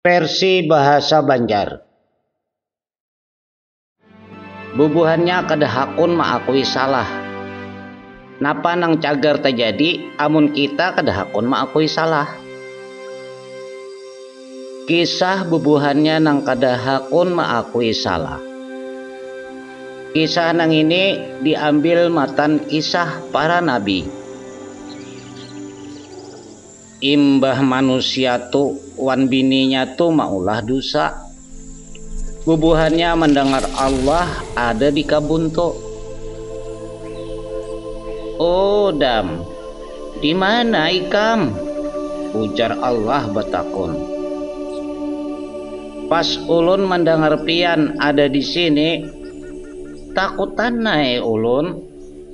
Versi bahasa Banjar. Bubuhannya kada hakun maakui salah. Napa nang cagar tajadi amun kita kada hakun maakui salah? Kisah bubuhannya nang kada hakun maakui salah. Kisah nang ini diambil matan kisah para nabi. Imbah manusia tu wan bininya tu maulah dusa, bubuhannya mandangar Allah ada di kabun tu. Adam, di mana ikam? ujar Allah batakun. Pas ulun mandangar pian ada di sini, takutan ai ulun.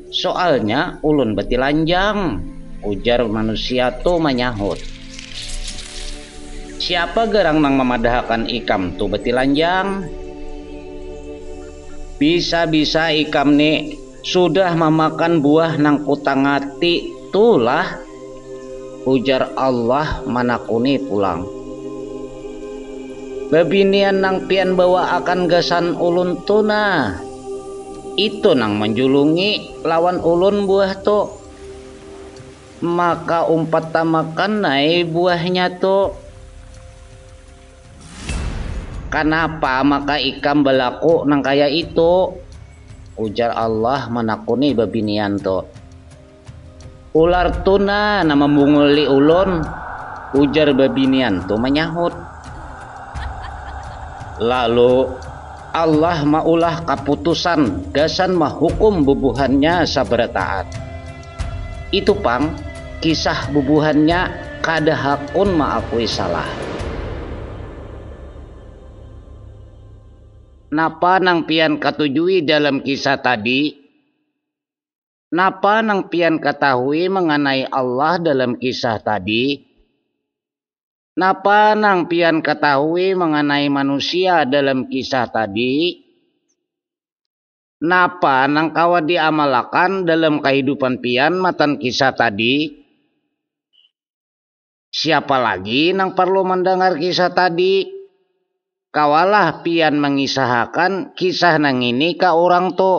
Soalnya ulun batilanjang, ujar manusia tu manyahut. Siapa garang nang mamadahakan ikam tu batilanjang? Bisa-bisa ikam ni sudah mamakan buah nang kutangati tu lah? Ujar Allah manakuni pulang. Babinian nang pian bawaakan gasan ulun tu nah, itu nang manjulungi lawan ulun buah tu. Maka umpat tamakan ai buahnya tu. Kanapa maka ikam balaku nang kaya itu? Ujar Allah manakuni babinian tu. Ular tuna nang mambunguli ulun, ujar babinian tu manyahut. Lalu, Allah maulah kaputusan gasan mahukum bubuhannya sabarataan. Itu pang, kisah bubuhannya kada hakun maakui salah. Napa nang pian katujui dalam kisah tadi? Napa nang pian katahui manganai Allah dalam kisah tadi? Napa nang pian katahui manganai manusia dalam kisah tadi? Napa nang kawa diamalakan dalam kahidupan pian matan kisah tadi? Siapa lagi nang parlu mandangar kisah tadi? Kawalah pian mangisahakan kisah nangini ka urang tu.